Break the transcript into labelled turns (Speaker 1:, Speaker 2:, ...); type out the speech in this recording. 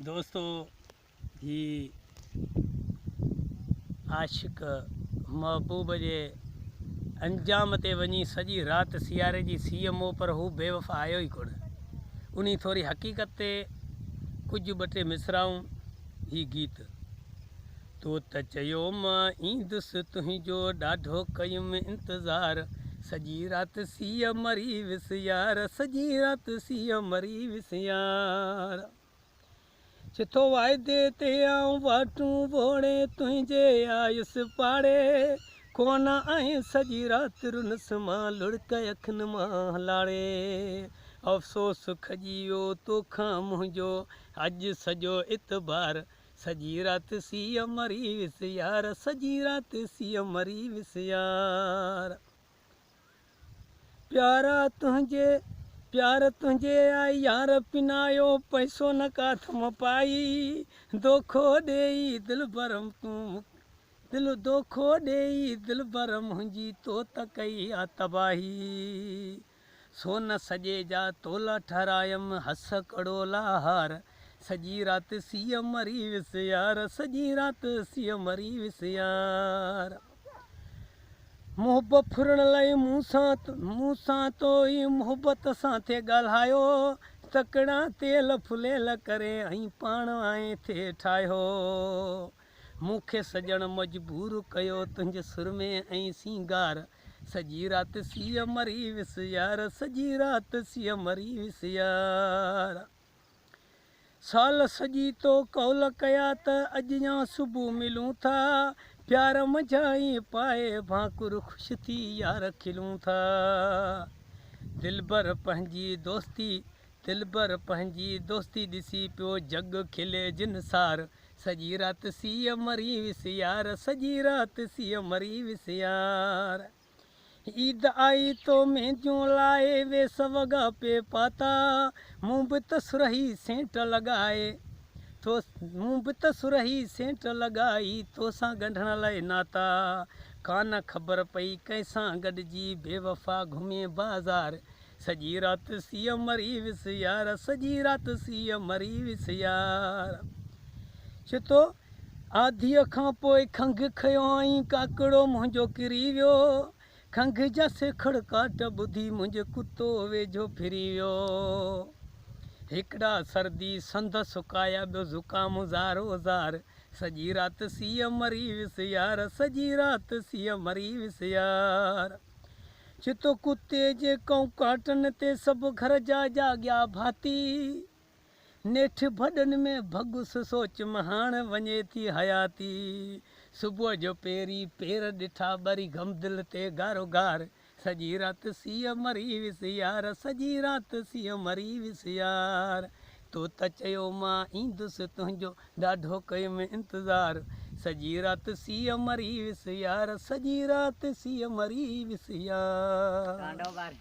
Speaker 1: دوستو هي عاشق محبوب جي انجام تي وڃي سڄي رات سياري جي سي ايم او پر هو بي وفا آيو ئي ڪونه انهي ٿوري حقيقت تي ڪجهه ٻه ٽي مصرعون هي گيت تو ته چيو مان ايندس تنهنجو ڏاڍو ڪيم انتظار سڄي رات سيء مري ويس يار سڄي رات سيء مري ويس يار چي ٿو واعدي تي آئون واٽون ووڙي تنهنجي آيس پاڙي ڪونه آئين سڄي رات رنس مان لڙڪ اکين مان لاڙي افسوس کڄي ويو توکان منهنجو اڄ سڄو اعتبار سڄي رات سيء مري ويس يار سڄي رات سيء مري ويس يار پيارا تنهنجي پيار تنهنجي آئي يار پنايو پئسو نه ڪا ٿم پائي دوکو ڏيئي دلبرم تون مون دل دوکو ڏيئي دلبر منهنجي تو ته ڪئي آ تباهي سو نه سڄي جا تولا ٺهرايم هس ڪڙو لاهار سڄي رات سيء مري ويس يار سڄي رات سيء مري ويس يار محب ڦرڻ لئه مون سان مون سان تو ئي محبت سان ٿي ڳالهايو تڪڙان تيل ڦليل ڪري ۽ پاڻ آئين ٿي ٺاهيو مون کي سڄڻ مجبور ڪيو تنهنجي سرمي ۽ سينگار سڄي رات سيء مري ويس يار سڄي رات سيء مري ويس يار سال سڄي تو قول ڪيا ته اڄ يا صبح ملون ٿا پيار منجهان ئي پائي ڀانڪر خوش ٿي يار کلون ٿا دلبر پنهنجي دوستي دلبر پنهنجي دوستي ڏسي پيو جڳ کلي جنسار سڄي رات سيء مري ويس يار، سڄي رات سيء مري ويس يار. عيد آئي تو مينديون لائي، ويس وڳا پي پاتا، مون به ته سرهي سينٽ لڳائي تو مون به ته سرهي سينٽ لڳائي، تو سان ڳنڍڻ لاء ناتا، ڪانه خبر پئي ڪنهن سان گڏجي بيوفا گهمين بازار، سڄي رات سيء مري ويس يار، سڄي رات سيء مري ويس يار. چي ٿو، آڌيء کان پوء کنگهه کنيو آئين، ڪاڪڙو منهنجو ڪري ويو. کنگهه جا سيکڙ ڪاٽ ٻڌي، منهنجي ڪتو ويجهو ڦري ويو. هڪڙا سردي سندس سڪايا، ٻيو زڪام زارو زار. سڄي رات سيء مري ويس يار، سڄي رات سيء مري ويس يار. چتو ڪتي جي ڪئون ڪاٽن تي سڀ گهر جا جاڳيا ڀاتي نيٺ ڀڏن ۾ ڀڳس سوچ مهاڻ وڃي ٿي حياتي صبح جو پيري پير ڏٺا ٻري غمدل تي گارو گار سڄي رات سيء مري ويس يار سڄي رات سيء مري ويس يار تو ته چيو مان ايندس تنهنجو ڏاڍو ڪيم انتظار سڄي رات سيء مري ويس يار سڄي رات سيء مري ويس يار.